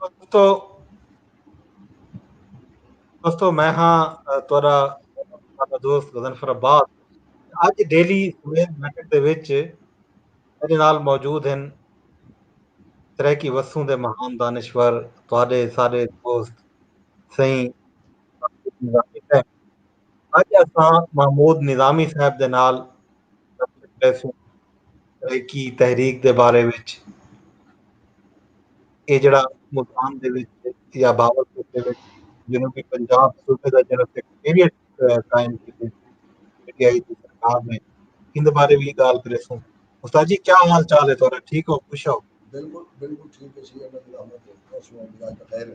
دوستو دوستو میں ہاں تورا دوست غزنفر عباس اج ڈیلی سویل میٹر دے وچ میرے نال موجود ہیں سرائیکی وسوں دے مہان دانشور تواڈے سارے دوست سائیں اج اساں محمود نظامی صاحب دے نال گالھ کریسوں سرائیکی تحریک دے بارے وچ اے جیڑھا ملتان دے وچ یا باوالپور دے وچ جنوبی پنجاب صوبے دا جیڑھا سیکرٹریٹ قائم کیتے پی ٹی آئی دی سرکار نے ان دے بارے وی گالھ کریسوں استاد جی کیا حال چال ہے تہاڈا ٹھیک ہو خوش ہو بالکل بالکل ٹھیک ہے سی اللہ کی رحمت ہے خوش ہوں اللہ کا خیر ہے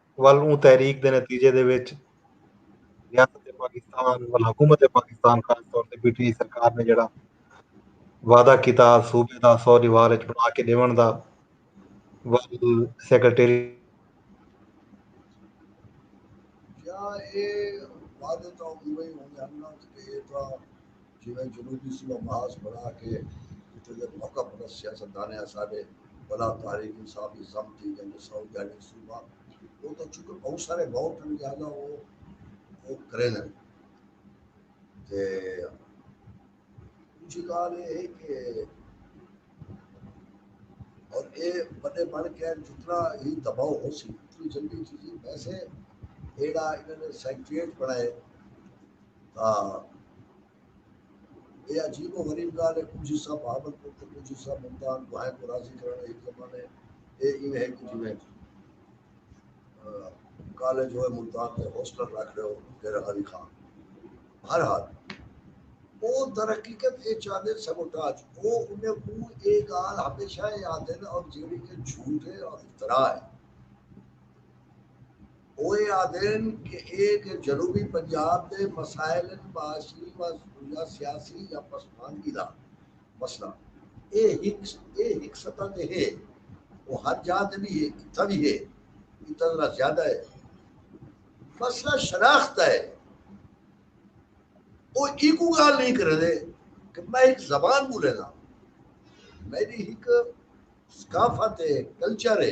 ول اوں تحریک دے نتیجے دے وچ ریاست پاکستان ول حکومت پاکستان خاص طور تے پی ٹی آئی سرکار نے جیڑھا وعدہ کیتا صوبے دا سو دیوار اچ بݨا کے ݙیوݨ دا ول سیکرٹری کیا اے وعدے تاں اونویں ہی ہوندے ہن نا کہ اے تاں جیویں جنوبی صوبہ محاذ بݨا کے اتھوں دے موقع پرست سیاستدانیں اساݙے بھلا تحریک انصاف دی ضم تھی ڳئن جو ساؤتھ گائیڈنس صوبہ او تاں چونکہ بہوں سارے ووٹ ہن لہذا او او کریندن تے ݙوجھی ڳالھ اے ہے کہ اور اے وݙے بݨ کے جتنا ہی دباؤ ہوسی اتنی جلدی چیزیں ویسے ایڑا انہاں نے سیکریٹریٹ بݨائے تاں اے عجیب و غریب گالھ اے کجھ حصہ بہاول پور تے کجھ حصہ ملتان دواہیں کوں راضی کرݨ ہک زمانے اے ایویں ہک جیویں کالج ہوئے ملتان تے ہوسٹل رکھ ݙیو ڈیرہ غازی خان بہر حال او درحقیقت اے چاہندے سبوٹاج او انہیں کوں اے گالھ ہمیشہ اے آہدن اور جیڑھی کہ جھوٹ اے اور افتراء اے۔ او اے آدھن کہ اے جو جنوبی پنجاب دے مسائل ہن معاشی و یا سیاسی یا پسماندگی دا مسئلہ اے ہک اے ہک سطح تے ہے او ہر جاہ تے وی ہے اتھاں وی ہے اتھاں ذرا زیادہ ہے مسئلہ شناخت دا ہے او ایکو گال نہیں کرے دے کہ میں ہک زبان بولے دا میری ہک ثقافت ہے کلچر ہے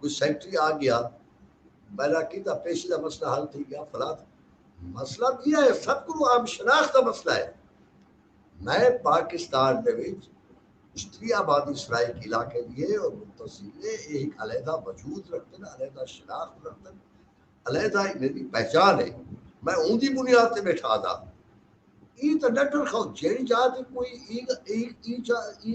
کوئی سیکرٹری آ گیا بیرا کیتا پیشی دا مسئلہ حل تھی گیا فلاد مسئلہ بھی ہے سب کو عام شناخت دا مسئلہ ہے میں پاکستان دے وچ اشتری آبادی سرائیک علاقے دی ہے اور متصل ہے ایک علیحدہ وجود رکھتے ہیں علیحدہ شناخت رکھتے ہیں علیحدہ میری پہچان ہے میں اون دی بنیاد تے بیٹھا دا ای تے ڈٹر خو جیڑی جا تے کوئی ای ای ای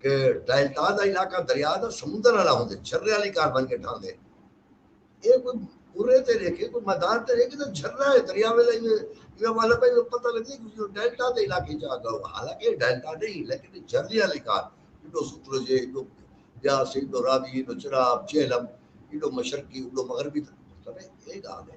کہ ڈیلٹا دا علاقہ دریا دا سمندر آلا ہوندے جھرے آلی کار بن کے ڈھاندے اے کوئی پورے تے رہے کے کوئی میدان تے رہے کے تو جھرا ہے دریا ویلا ہی میں والا پہ جو پتہ لگی کہ جو ڈیلٹا دے علاقے جا گا حالانکہ ڈیلٹا نہیں لیکن جھرے آلی کار جو سطر جے جو یا سی جو راوی جو چراب جہلم جو مشرقی جو مغربی تھا مطلب ہے ایک آگے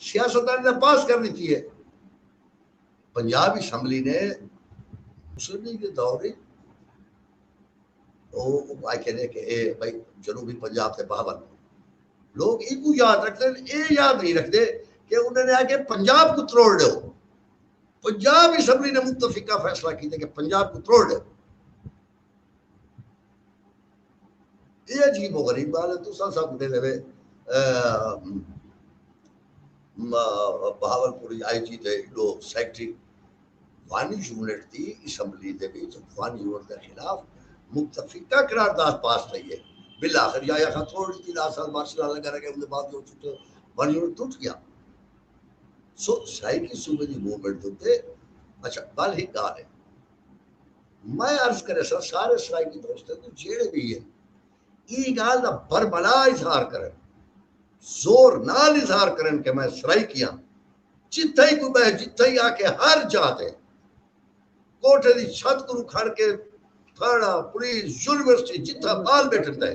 سیاستدان دا پاس کر ڈتی ہے۔ پنجاب اسمبلی نے مسلم لیگ دے دور وچ او آکھے نے کہ اے بھائی جنوبی پنجاب تے بہاول پور لوگ اینکوں یاد رکھدے ہن اے یاد نہیں رکھدے کہ انہاں نے آکھے پنجاب کوں تروڑ ڈیو پنجاب اسمبلی نے متفقہ فیصلہ کیتے کہ پنجاب کوں تروڑ ڈیو۔ اے عجیب و غریب گال ہے تساں سب دے لوے بہاول پوری آئی جی دے دو سیکٹری وانی یونٹ دی اسمبلی دے وچ وانی یونٹ دے خلاف متفقہ قرار داد پاس تھئی ہے بالآخر یا یا خان توڑ دی دار سال مارشل لا لگا رہے ان دے بعد جو چھٹے وانی یونٹ ٹوٹ گیا سو سائیکی صوبے دی موومنٹ دے اچھا گل ہی گال ہے میں عرض کریساں سارے اسرائیلی دوستاں کوں جیڑھے وی ہن ایں گالھ دا برملا اظہار کرن زور نال اظہار کرن کہ میں سرائیکی ہاں جتھاں ہی کوئی بہہ جتھاں ہی آکھے ہر جاہ تے کوٹھے دی چھت کنوں کھڑ کے تھانہ پولیس یونیورسٹی جتھاں بال بیٹھن دے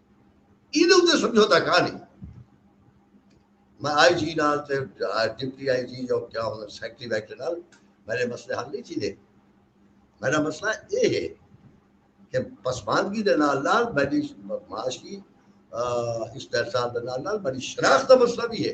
ایندے اتے سمجھوتا کانی میں آئی جی نال تے ڈپٹی آئی جی جو کیا ہونا سیکٹری بیٹھے نال میرے مسئلے حل نہیں تھی دے میرا مسئلہ یہ ہے کہ پسماندگی دے نال نال میری معاشی استحصال دے نال نال میری شناخت دا مسئلہ بھی ہے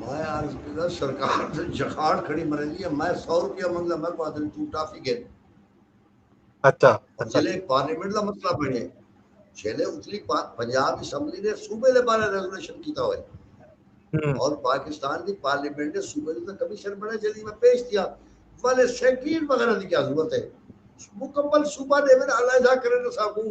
میں عرض کیتا سرکار تے جخاڑ کھڑی مریندی ہے میں سو روپیہ منگدا میں کو آدھن تو ٹافی گن اچھا جلے اچھا۔ پارلیمنٹ دا مسئلہ بنے جلے اتلی پنجاب اسمبلی نے صوبے دے بارے ریزولوشن کیتا ہوئے اور پاکستان دی پارلیمنٹ نے صوبے دے کمیشن بنے جلی میں پیش دیا والے سیکرین وغیرہ دی کیا ضرورت ہے مکمل صوبہ دے میں علیحدہ کرے نہ ساکوں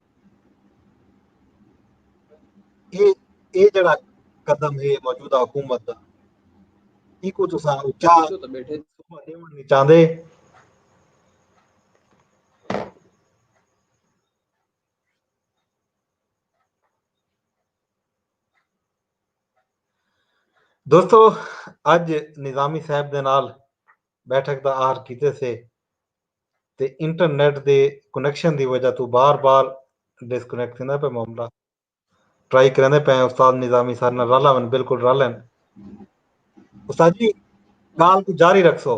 اے اے جڑا قدم ہے موجودہ حکومت دا ایکو تساں اچا بیٹھے نہیں چاہندے دوستو اج نظامی صاحب دے نال بیٹھک دا آہر کیتے سے تے انٹرنیٹ دے کنیکشن دی وجہ توں بار بار ڈسکنیکٹ تھیندا پئے معاملہ ٹرائی کریندے پئے ہیں استاد نظامی سارے نال رل آون بالکل رل ہیں استاد جی گال کو جاری رکھسو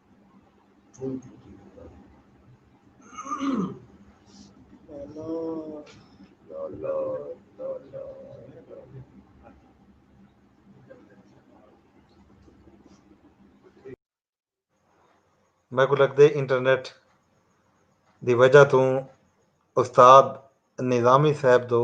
میکوں لگدے انٹرنیٹ دی وجہ توں استاد نظامی صاحب دو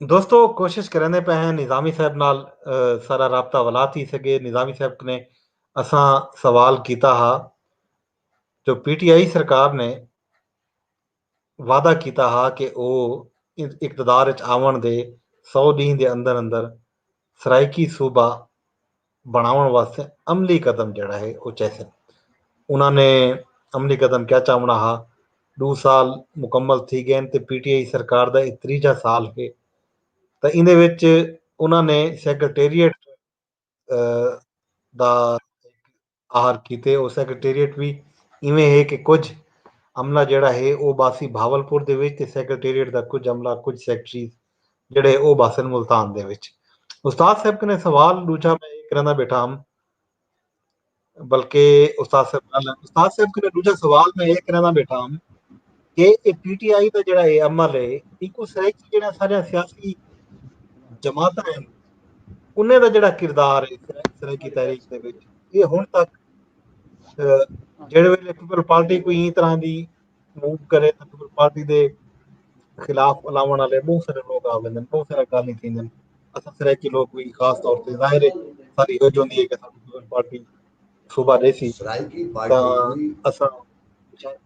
دوستو کوشش کرنے پہ ہیں نظامی صاحب نال سارا رابطہ ولا تھی سکے نظامی صاحب نے اساں سوال کیتا ہا جو پی ٹی آئی سرکار نے وعدہ کیتا ہا کہ او اقتدار اچ آون دے سو ڈینہ دے اندر اندر سرائیکی صوبہ بنڑاونڑ واسطے عملی قدم جیڑھا ہے او چیسن۔ انہاں نے عملی قدم کیا چاونڑا ہا، ڈو سال مکمل تھی گئن تے پی ٹی آئی سرکار دا اے تریجھا سال ہے تاں ایندے وچ انہاں نے سیکرٹریٹ دا۔ آہر کیتے او سیکرٹریٹ وی ایویں ہے کہ کجھ عملہ جیڑھا ہے او باسی بھاولپور دے وچ تے سیکرٹریٹ دا کجھ عملہ کجھ سیکرٹریز جیڑھے او باسن ملتان دے وچ۔ استاد صاحب کنے سوال ڈوجھا میں اے کرندا بیٹھا ہم بلکہ استاد صاحب استاد صاحب کنے ڈوجھا سوال میں اے کرندا بیٹھا ہم۔ کہ اے پی ٹی آئی دا جیڑھا اے عمل اے ایکوں سرائیکی جیڑھا ساریاں سیاسی جماعتاں ہن انہیں دا جیڑھا کردار اے سرائیکی تحریک دے وچ اے ہن تک جیڑھے ویلے پیپل پارٹی کوئی ایں طرح دی موو کرے تے پیپل پارٹی دے خلاف الاوݨ والے بہت سارے لوگ آ ویندن بہت سارا گالیں تھیندن اساں سرائیکی لوگ کوئی خاص طور تے ظاہر ہے ساری ہو جوندی ہے کہ ساڈی پیپل پارٹی صوبہ ڈیسی سرائیکی پارٹی اساں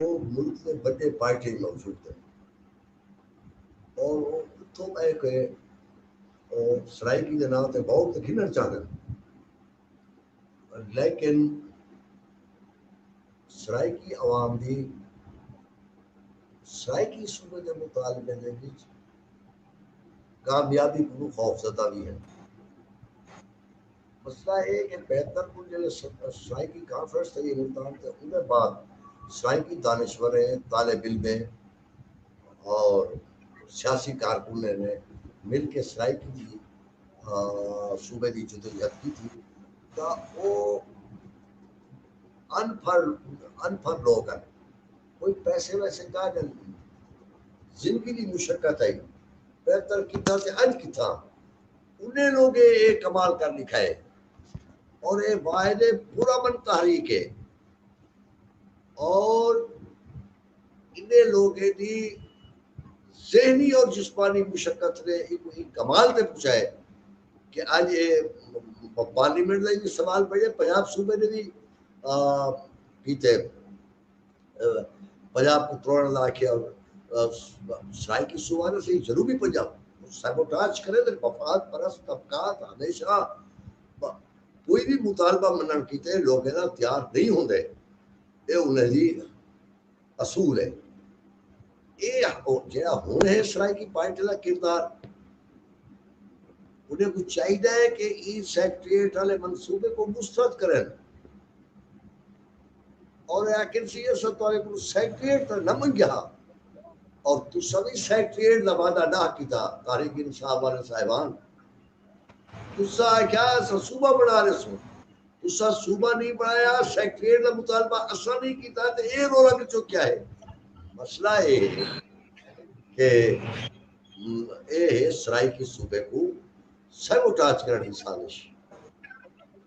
او ملک دے وڈے پارٹیاں اچ موجود ہن اور او اتھوں بہ کے او سرائیکی دے ناں تے ووٹ تے گھنن چاہندے ہن لیکن سرائیکی عوام دی سرائیکی صوبے دے مطالبے دے وچ کامیابی کو خوف زدہ وی ہن مسئلہ اے کہ بہتر کوں جیڑھے سرائیکی کانفرنس تھئی اے ملتان تے اوندے بعد سرائیکی دانشوریں، طالب علمیں اور سیاسی کارکنیں نے مل کے سرائیکی دی صوبے دی جدوجہد کیتی تاں او ان پڑھ ان پڑھ لوگ ہیں کوئی پیسے ویسے کا جن زندگی دی مشقت ہے بہتر کیتا تے اج کیتا انہیں لوگے اے کمال کر ڈکھائے اور اے واحد پر امن تحریک ہے اور انہیں لوگے دی ذہنی اور جسمانی مشقت نے ایک کمال تے پہنچائے کہ اج اے پارلیمنٹ دا سوال پڑے پنجاب صوبے دے بھی کیتے پنجاب کوں تروڑن دا آکھیا سرائیکی صوبہ نہ صحیح جنوبی پنجاب سیبوٹاج کرے تے مفاد پرست طبقات ہمیشہ کوئی بھی مطالبہ منن کیتے لوگیں نال تیار نہیں ہوندے اے انہاں دی اصول ہے اے جیڑا ہن ہے سرائیکی پارٹی دا کردار انہیں کو چاہیے کہ ای سیکٹریٹ والے منصوبے کو مسترد کریں اور اے آکھن سی اساں تہاڈے کولوں سیکریٹ تاں نہ منگیا ہا اور تساں وی سیکریٹ دا وعدہ نہ کیتا تحریک انصاف والے صاحبان تساں آکھیا اساں صوبہ بنا ریسوں تساں صوبہ نہیں بنایا سیکریٹ دا مطالبہ اساں نہیں کیتا تے اے رولا کچو کیا ہے مسئلہ اے ہے کہ اے ہے سرائیکی صوبے کو سیوٹاج کرنے کی سازش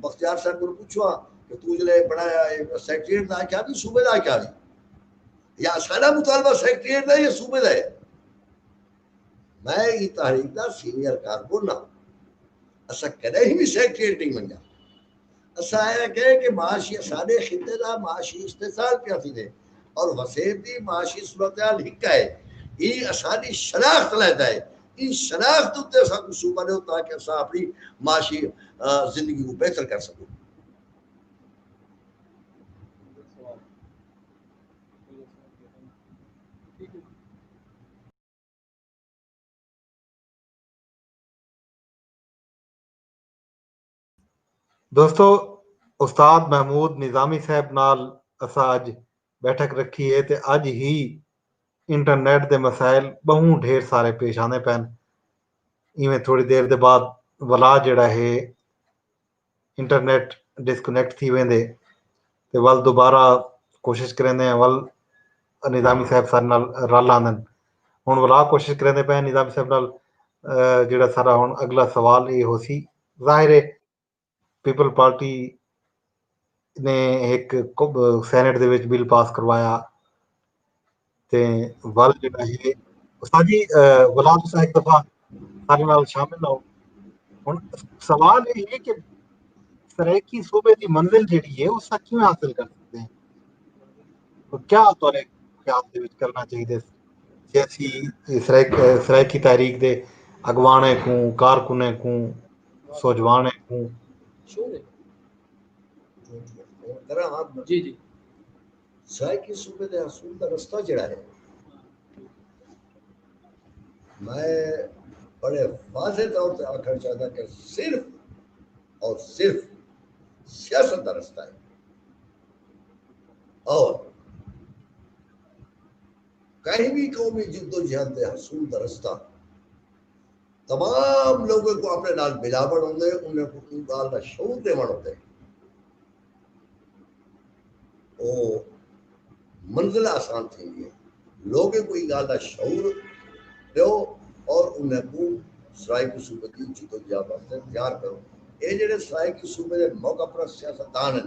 بختیار صاحب کو پوچھو ہاں کہ تو جلے بنایا ہے سیکریٹ دا کیا بھی صوبے دا کیا نہیں یا سارا مطالبہ سیکریٹ دا یا صوبے دا ہے میں یہ تحریک دا سینئر کارکن نہ اسا کدے ہی بھی سیکریٹ نہیں بنیا اسا آیا کہ کہ معاشی سارے خطے دا معاشی استحصال کیا تھی دے اور وسیب دی معاشی صورتحال ہکا ہے یہ اسانی شناخت لیتا ہے ایں شناخت اتے اساں کوں صوبہ ݙیو تاکہ اساں اپݨی معاشی زندگی کوں بہتر کر سڳوں۔ دوستو استاد محمود نظامی صاحب نال اساں اج بیٹھک رکھی ہے تے اج ہی انٹرنیٹ دے مسائل بہوں ڈھیر سارے پیش آندے پین ایویں تھوڑی دیر دے بعد ولا جڑا ہے انٹرنیٹ ڈسکنیکٹ تھی ویندے تے ول دوبارہ کوشش کریندے ہیں ول نظامی صاحب سارے نال رل آندن ہن ولا کوشش کریندے پے نظامی صاحب نال جڑا سارا ہن اگلا سوال یہ ہو سی ظاہر ہے پیپل پارٹی نے ایک سینٹ دے وچ بل پاس کروایا تے ول جڑا ہے ساجی غلام صاحب ایک دفعہ سارے نال شامل ہو ہن سوال یہ ہے کہ سرائیکی صوبے دی منزل جڑی ہے اس کا کیوں حاصل کر سکتے ہیں کیا تو نے خیال دے وچ کرنا چاہیے سیاسی سرائیکی تحریک دے اڳواݨیں کوں، کارکنیں کوں، سوجھواݨیں کوں۔ سرائیکی صوبے دے حصول دا رستہ جیڑھا ہے میں بڑے واضح طور تے آکھݨ چاہنداں کہ صرف اور صرف سیاست دا رستہ ہے اور کہیں وی قومی جدوجہد دے حصول دا رستہ تمام لوگیں کوں اپنے نال ملاوݨ ہوندے، انھیں کوں اوں ڳالھ دا شعور ݙیوݨ ہوندے۔ او منزل آسان تھیندی ہے۔ لوگیں کوں ایں ڳالھ دا شعور ݙیو اور انھیں کوں سرائیکی صوبے دی جدوجہد واسطے تیار کرو۔ اے جیڑھے سرائیکی صوبے دے موقع پرست سیاستدان ہن،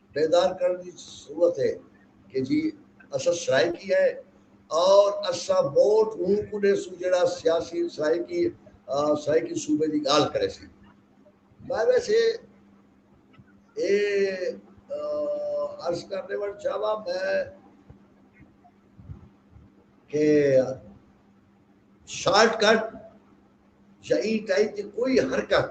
بیدار کرݨ دی ضرورت اے کہ جی اساں سرائیکی ہیں اور اساں ووٹ اوں کوں ݙیسوں جیڑھا سیاسی سرائیکی سرائیکی صوبے دی ڳالھ کریسی۔ میں ویسے اے عرض کر ݙیوݨ چاہواں میں کہ شارٹ کٹ یا ایں ٹائپ دی کوئی حرکت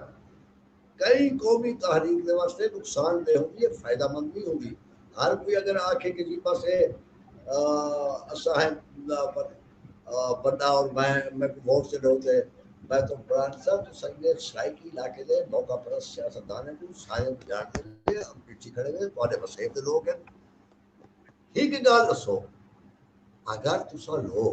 کئی قومی تحریک دے واسطے نقصان دہ ہوندی ہے فائدہ مند نہیں ہوندی ہر کوئی اگر آکھے کہ جی بس اے اساں ہیں بندہ اور میں میں کو ووٹ تے ڈو تے میں تو قرآن صاحب تو سنگے سرائیکی علاقے دے موقع پر سیاستدان کو سارے جان دے لے ہم پیچھے کھڑے ہوئے تواڈے وسیب دے لوگ ہیں ہی کہ گال رسو اگر تسا لوگ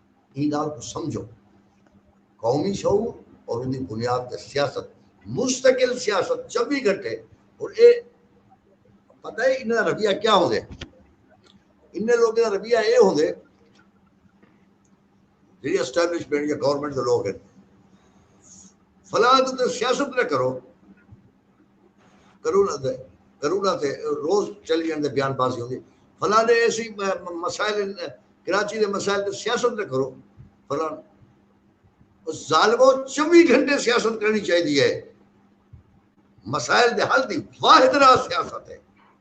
ایں ڳالھ کوں سمجھو قومی شعور اور اوندی بنیاد تے سیاست مستقل سیاست چوبی گھنٹے ہن اے پتہ اے انہاں دا رویہ کیا ہوندے انہاں لوکاں دا رویہ اے ہوندے جیڑی اسٹیبلشمنٹ یا گورنمنٹ دے لوک ہن فلاں تے سیاست نہ کرو کرونا دے کرونا تے روز چلی جاندے بیان بازی ہوندی فلاں دے ایسی مسائل کراچی دے مسائل تے سیاست نہ کرو فلاں ظالمو چوبی گھنٹے سیاست کرنی چاہیے ہے مسائل دے حل دی واحد راہ سیاست ہے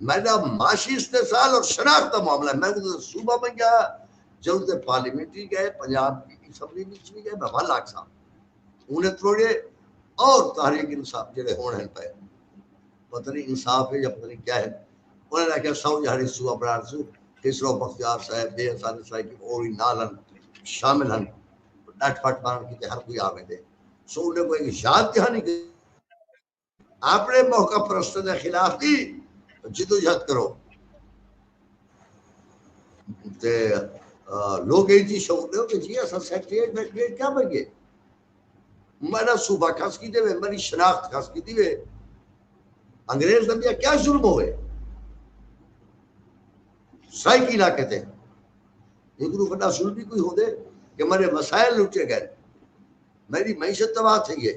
میڈا معاشی استحصال اور شناخت دا معاملہ ہے میں اوں دے صوبہ بنجا ہاں جدوں تے پارلیمنٹری گئے پنجاب دی اسمبلی وچ وی گئے میں ول آکھساں اوں نے تروڑے اور تحریک انصاف جڑے ہن ہن پئے پتہ نہیں انصاف ہے یا پتہ نہیں کیا ہے انہاں نے آکھیا سو جہاڑی صوبہ بنان سو خسرو بختیار صاحب بے انصاری صاحب کی اور بھی نال ہن شامل ہن ڈٹ پٹ بنان کی ہر کوئی آویں دے سو انہیں کوئی یاد کہانی کہ اپݨے موقع پرستاں دے خلاف وی جدوجہد کرو تے لوگ ایں چیز شعور دیو کہ جی اساں سیکریٹریٹ میکریٹ کیا بن گئے میرا صوبہ کھس کی دے وے میری شناخت کھس کی دی وے انگریز دنیا کیا ظلم ہوئے سائی کی علاقے تے یہ گروہ بڑا ظلم بھی کوئی ہو دے کہ میرے مسائل لٹے گئے میری معیشت تباہ تھی ہے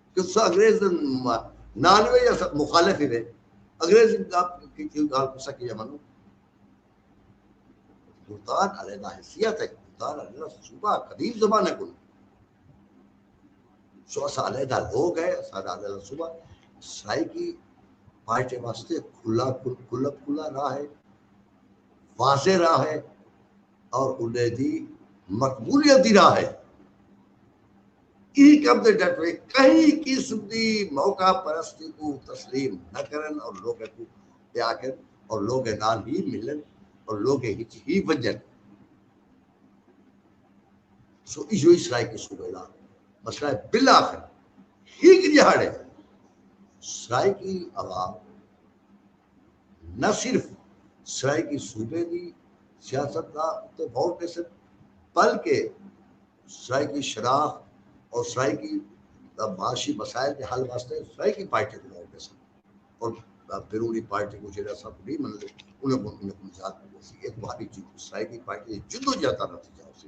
کہ تساں انگریز دے نال وے یا مخالف ہی وے انگریز کی گال تساں کیاں منو ملتان والے دا حیثیت ہے ملتان والے دا صوبہ قدیم زمانے کو سو اسا والے دا لوگ ہے اسا والے دا صوبہ سرائی کی پارٹی واسطے کھلا کھلا کھلا راہ ہے واضح راہ ہے اور انہیں دی مقبولیت دی راہ ہے۔ ای کم دے ڈٹوے کہیں قسم دی موقع پرستی کوں تسلیم نہ کرن اور لوگیں کوں پیاکن اور لوگیں نال ہی ملن اور لوگیں ہچ ہی ونجن۔ سو ایہو ہی سرائیکی صوبے دا مسئلہ ہے۔ بالآخر ہک دیہاڑے سرائیکی عوام۔ نہ صرف سرائیکی صوبے دی سیاست دا اتے غور ݙیسن بلکہ سرائیکی شناخت اور سرائیکی دا معاشی مسائل دے حل واسطے سرائیکی پارٹی کوں غور ݙیسن اور بیرونی پارٹی کوں جیڑھے اساں کوں نہیں منندے انہاں کوں انہاں کوں نجات ملسی اے تہاݙی سرائیکی پارٹی دی جدوجہد دا نتیجہ ہوسی۔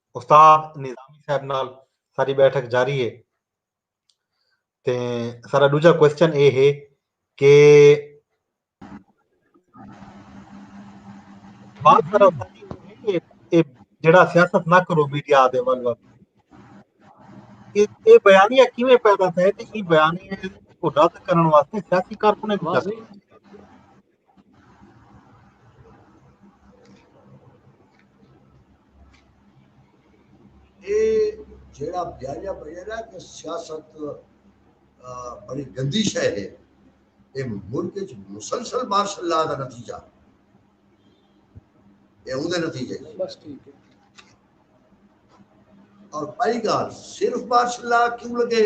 استاد نظامی صاحب نال ساری بیٹھک جاری ہے تے سارا دوجا کوشچن اے ہے کہ بات سارا جڑا سیاست نہ کرو میڈیا دے ول ول اے بیانیہ کیویں پیدا تھے تے اے بیانیہ کو رد کرن واسطے سیاسی کارکنیں جیڑا بیانیہ بنیا نا کہ سیاست بڑی گندی شے ہے اے ملک وچ مسلسل مارشل لا دا نتیجہ اے اون دے نتیجے بس ٹھیک ہے اور پہلی گال صرف مارشل لا کیوں لگے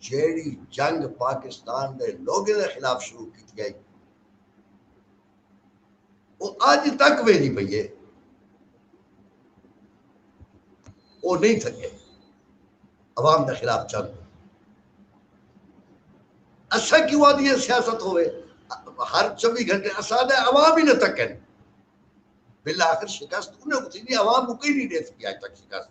جیڑھی جنگ پاکستان دے لوگیں دے خلاف شروع کیتی گئی او اج تک ویندی پئی ہے او نہیں تھکے عوام دے خلاف چل اسا کیوں آدھی ہے سیاست ہوئے ہر چوبی گھنٹے اسا دے عوام ہی نہ تکن بالآخر شکست انہیں کچھ نہیں عوام کو کہیں نہیں دے سکی آج تک شکست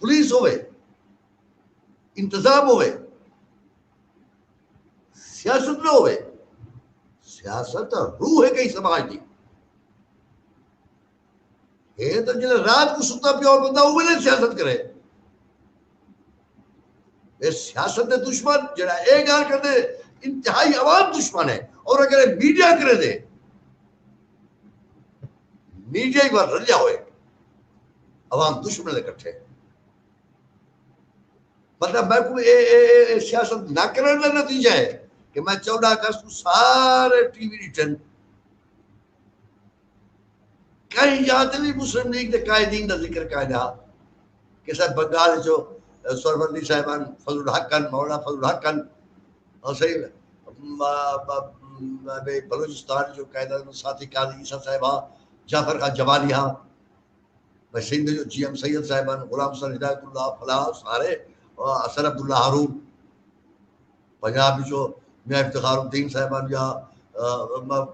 پولیس ہووے، انتظام ہووے، سیاست نہ ہووے، سیاست تاں روح ہے کہیں سماج دی۔ ہے تاں جلے رات کو ستا پیو بندہ اوہ ویلے سیاست کرے۔ اے سیاست دے دشمن جڑا اے گال کردے انتہائی عوام دشمن ہے اور اگر اے میڈیا کرے دے میڈیا ہی وال رلیا ہوئے عوام دشمن دے کٹھے مطلب میں کو اے اے اے اے سیاست نہ کرنے کا نتیجہ ہے کہ میں چودہ اگست کو سارے ٹی وی ریٹن کہیں یاد نہیں مسلم لیگ دے قائدین دا ذکر کہا جا کہ صاحب بنگال جو سرورلی صاحبان فضل الحق کن مولا فضل الحق کن حسین بلوچستان جو قائد اعظم ساتھی قاضی عیسی صاحب ہا جعفر خان جمالی ہا بھئی سندھ جو جی ایم سید صاحب ہن غلام حسین ہدایت اللہ فلاح سارے حسن عبداللہ ہارون پنجاب جو میاں افتخار الدین صاحب ہن یا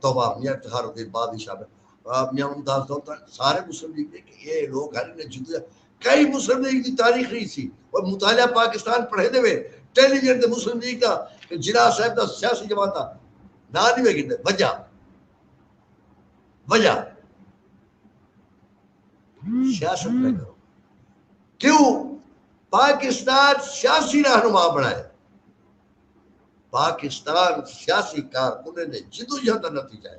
توبہ میاں افتخار الدین بادشاہ میاں ممتاز دولت سارے مسلم لیگ کہ یہ لوگ ہن جدوجہد کئی مسلم لیگ دی تاریخ رہی سی اور مطالعہ پاکستان پڑھیندے وے ٹیلی ویژن تے مسلم لیگ دا تے جناح صاحب دا سیاسی جماعتاں ناں نی وے گھندے وجہ وجہ سیاست نہ کرو کیوں پاکستان سیاسی رہنما بنائے پاکستان سیاسی کارکنیں نے جدوجہد کا نتیجہ ہے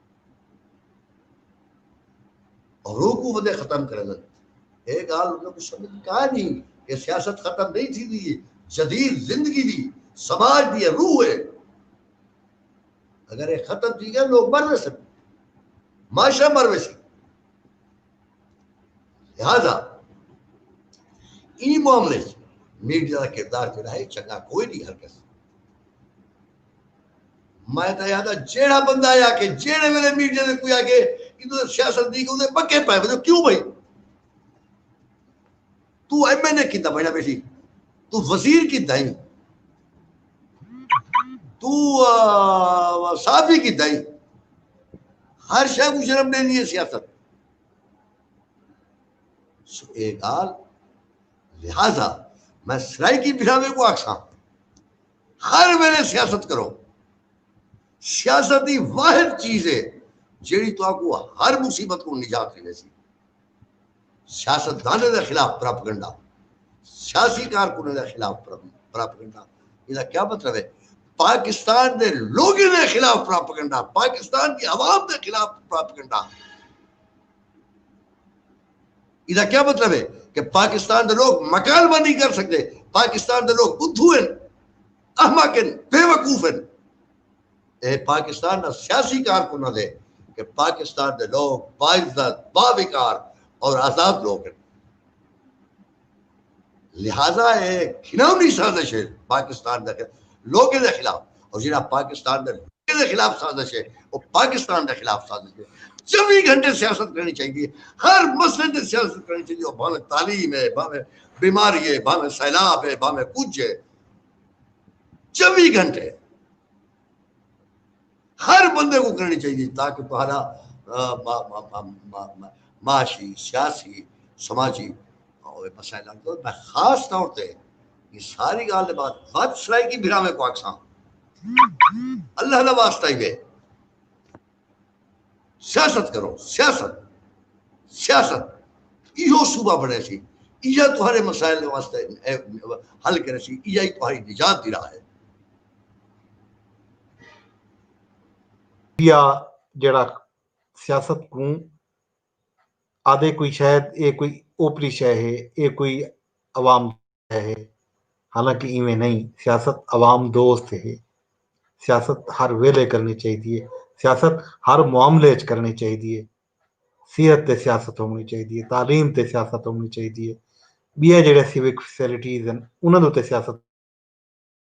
ہو کوں ودے ختم کریندن اے گالھ انہاں کوں سمجھ کائے نی کہ سیاست ختم نئیں تھیندی اے جدید زندگی وی سماج دی روح اے اگر اے ختم تھی گئے لوگ مر ویسن معاشرہ مر ویسی لہذا این معاملے میڈیا کا کردار جڑا ہے چنگا کوئی نہیں ہر کس میں تاں آہدا جیڑھا بندہ اے آکھے جیڑھے ویلے میڈیا دے کوئی آکھے ایندے تے سیاست دی کوئی پکے پے ونجو کیوں بھائی تو ایم این اے کیتا بنیا بیٹھی تو وزیر کیتا ہی تو صحافی کیتا ہی ہر شے کو شرم دے نہیں سیاست سو اے گال لہذا میں سرائی کی بھراوے کو آکھاں ہر ویلے سیاست کرو۔ سیاست ای واحد چیز ہے جیڑھی تہاکوں ہر مصیبت کوں نجات ڈیویسی۔ سیاستدانیں دے خلاف پراپگنڈا، سیاسی کارکنیں دے خلاف پراپگنڈا ایندا کیا مطلب ہے؟ پاکستان دے لوگیں دے خلاف پراپگنڈا، پاکستان دی عوام دے خلاف پراپگنڈا۔ ایدا کیا مطلب ہے کہ پاکستان دے لوگ مکالمہ نہیں کر سکدے پاکستان دے لوگ بدھو ہن احمق ہن بے وقوف ہن اے پاکستان نا سیاسی کارکناں دے کہ پاکستان دے لوگ باعزت باوقار اور آزاد لوگ ہن لہذا اے گھنونی سازش اے پاکستان دے لوکیں دے خلاف اور جیڑھا پاکستان دے لوکیں دے خلاف سازش اے او پاکستان دے خلاف سازش اے چوی گھنٹے سیاست کرنی چاہی دی ہر مسئلے تے سیاست کرنی چاہی دی بھاویں تعلیم اے بھاویں بیماری اے بھاویں سیلاب اے بھاویں کچھ اے چوی گھنٹے ہر بندے کو کرنی چاہیے تاکہ تہاڈا معاشی سیاسی سماجی مسائل حل کرو میں خاص طور تے یہ ساری گال دے بعد ود سرائی کی بھرا میں کو آکساں اللہ دا واسطہ ہی بے سیاست کرو سیاست سیاست ایہو صوبہ بنے سی ایہا تہاڈے مسائل واسطے حل کرے سی ایہا ہی تہاڈی نجات دی راہ ہے یا جڑا سیاست کوں آدھے کوئی شاید اے کوئی اوپری شے ہے اے کوئی عوام شے ہے حالانکہ ایویں نہیں سیاست عوام دوست ہے سیاست ہر ویلے کرنی چاہیے سیاست ہر معاملے چ کرنی چاہیے صحت تے سیاست ہونی چاہیے تعلیم تے سیاست ہونی چاہیے ٻیا جڑے سیوک فیسلٹیز ہیں انہاں دے تے سیاست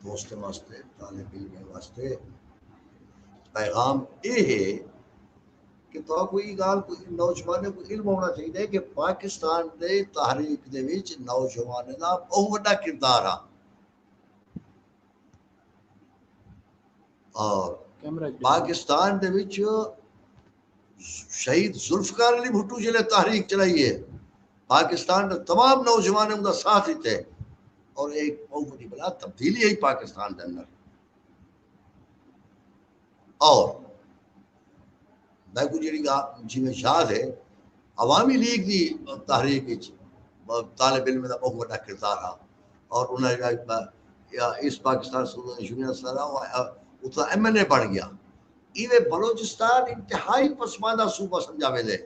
دوستیں واسطے طالب علمیں واسطے پیغام یہ ہے کہ تو کوئی گال کوئی نوجوان کو علم ہونا چاہیے کہ پاکستان دے تحریک دے وچ نوجوان دا بہت بڑا کردار ہے اور پاکستان دے وچ شہید ذوالفقار علی بھٹو جیلے تحریک چلائی ہے پاکستان دا تمام نوجوان ان دا ساتھ دیتے ہیں اور ایک بہت بڑی بلا تبدیلی ہے پاکستان دے اندر اور میں کو جڑی گا جی میں یاد ہے عوامی لیگ دی تحریک وچ طالب علم دا بہت بڑا کردار ہے اور انہاں جڑا اس پاکستان سوڈن یونین سارا اتھا ایم این اے بن گیا ایویں بلوچستان انتہائی پسماندہ صوبہ سمجھا ویندے۔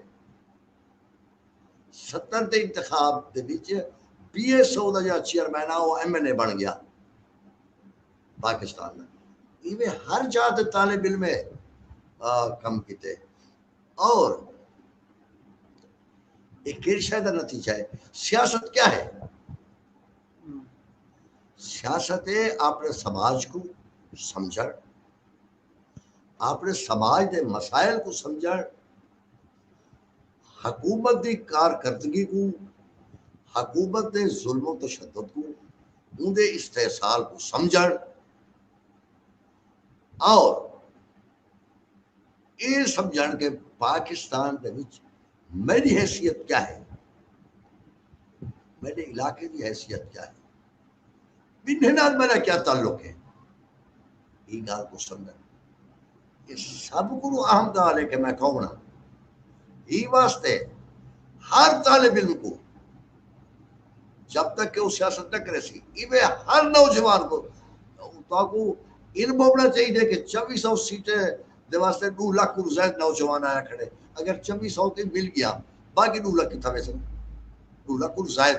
ستر دے انتخاب دے وچ بی ایس او دا جیڑھا چیئرمین ہا او ایم این اے بݨ ڳیا پاکستان دا۔ ایویں ہر جاہ تے طالب علم ہے کم کیتے اور اے کیڑھی شے دا نتیجہ ہے۔ سیاست کیا ہے؟ سیاست ہے اپنے سماج کوں سمجھݨ۔ آپݨے سماج دے مسائل کوں سمجھݨ، حکومت دی کارکردگی کوں، حکومت دے ظلم و تشدد کوں، اوندے استحصال کوں سمجھݨ اور اے سمجھݨ کہ پاکستان دے وچ میݙی حیثیت کیا ہے، میݙے علاقے دی حیثیت کیا ہے، بنھے نال میݙا کیا تعلق ہے؟ ایں ڳالھ کوں سمجھݨ اے سب کنوں اہم ڳالھ ہے کہ میں کون ہاں۔ ایں واسطے ہر طالب علم کوں جب تک کہ او سیاست نہ کریسی ایویں ہر نوجوان کوں تہاکوں علم ہووݨا چاہیدے کہ چوی سو سیٹیں دے واسطے ݙو لکھ کنوں زائد نوجوان آیا کھڑے اگر چوی سو تئیں مل ڳیا باقی ݙو لکھ کتھاں ویسن ݙو لکھ کنوں زائد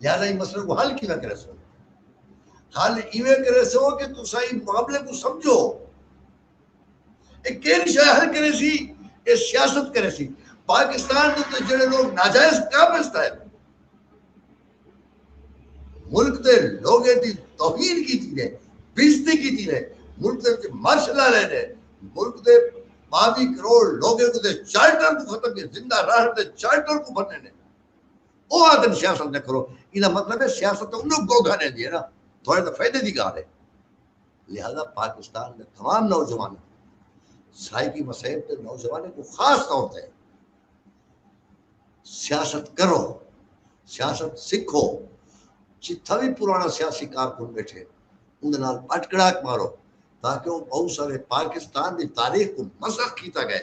لہذا ایں مسئلے کو حل کیویں کرے سو حل ایویں کرے سو کہ تسا ایں معاملے کو سمجھو اے کیڑی شے حل کرے سی اے سیاست کرے سی پاکستان دے تے جڑے لوگ ناجائز قابض تھے ملک دے لوگے دی توہین کی تھی نے بیزتی کی تھی نے ملک دے وچ مارش لا لے نے ملک دے باوی کروڑ لوگے کو دے چارٹر کو ختم کیے زندہ راہ دے چارٹر کو بھنے نے او آکھدن سیاست نہ کرو ایندا مطلب ہے سیاست تاں انہاں کوں گھوٹا ݙیندی ہے نا تھوڑے تاں فائدے دی ڳالھ ہے لہذا پاکستان دے تمام نوجواناں سرائیکی مسائل تے نوجوانوں کو خاص طور تے سیاست کرو سیاست سکھو جتھا بھی پرانا سیاسی کارکن بیٹھے اندر نال پٹکڑاک مارو تاکہ وہ بہت سارے پاکستان دی تاریخ کو مسخ کیتا گئے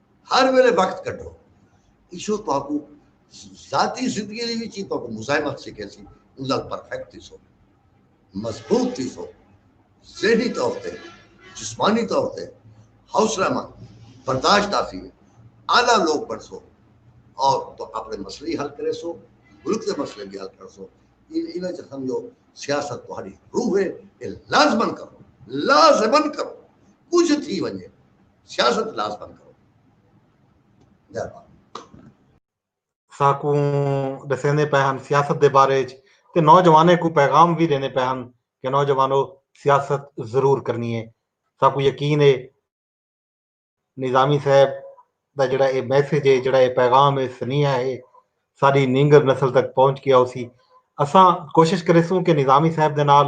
ہر ویلے وقت کڈھو۔ ایشو تہاکوں ذاتی زندگی دی وچ ہی تہاکوں مزاحمت سکھیسی، اوں نال پرفیکٹ تھیسو، مضبوط تھیسو، ذہنی طور تے، جسمانی طور تے حوصلہ مند، برداشت آسی، اعلی لوک بݨسو اور تہاں اپݨے مسئلے ہی حل کریسو، ملک دے مسئلے وی حل کرسو۔ انہاں چ سمجھو سیاست تہاݙی روح ہے، اے لازمن کرو، لازمن کرو، کجھ تھی ونڄے۔ سیاست کلاس بند کرو ساکوں دسیندے پے ہن سیاست دے بارے وچ تے نوجوانیں کو پیغام بھی دیندے پے ہن کہ نوجوانو سیاست ضرور کرنی ہے ساکوں یقین ہے نظامی صاحب دا جڑا اے میسج ہے جڑا اے پیغام ہے سنیہ ہے ساری نینگر نسل تک پہنچ گیا اسی اساں کوشش کرے سوں کہ نظامی صاحب دے نال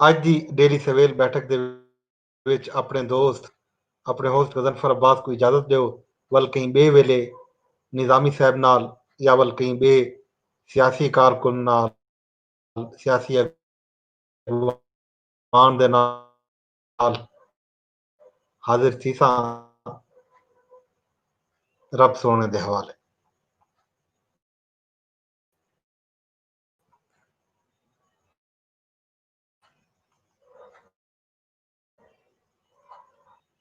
اڄ دی ڈیلی سویل بیٹھک دے وچ اپنڑے دوست اپنڑے ہوسٹ غضنفر عباس کوں اجازت ڈیو ول کہیں بئے ویلے نظامی صاحب نال یا ول کہیں بئے سیاسی کارکن نال سیاسی ایوان دے نال حاضر تھیساں رب سوہݨے دے حوالے۔